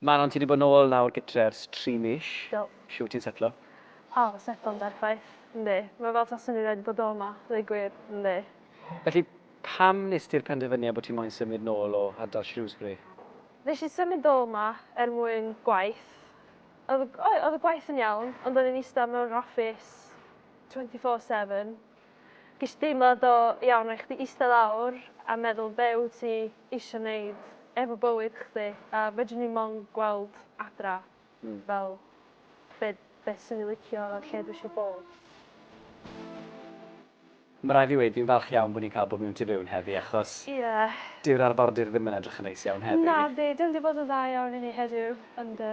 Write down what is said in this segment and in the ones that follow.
Manon ti di bod nôl nawr gytre ers tri mis. Do. Shwt ti'n setlo? O, setlo'n berffaith. Yndi. Mae fel taswn i rioed bod o 'ma, ddeu gwir. Yndi. Felly, pam nes ti'r penderfyniad bod ti moyn symud nôl o ardal Shrewsbury? Nes i symud nôl 'ma er mwyn gwaith. Oedd y oedd y gwaith yn iawn, ond o'n i'n ista mewn yr office twenty four seven. Ges i deimlad o iawn rhai chdi ista lawr a meddwl be wyt ti isio neud efo bywyd chdi a fedrwn i mond gweld adra fel be be swn i licio a lle dwi isio bod. Ma rai fi weud fi'n falch iawn bo ni'n ca'l bod mewn tu fewn heddi achos dyw'r arfordir ddim yn edrych yn neis iawn heddi. Nadi, dwi 'di bod yn dda iawn i ni heddiw, yndw.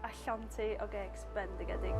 A llantau o gecs bendigedig.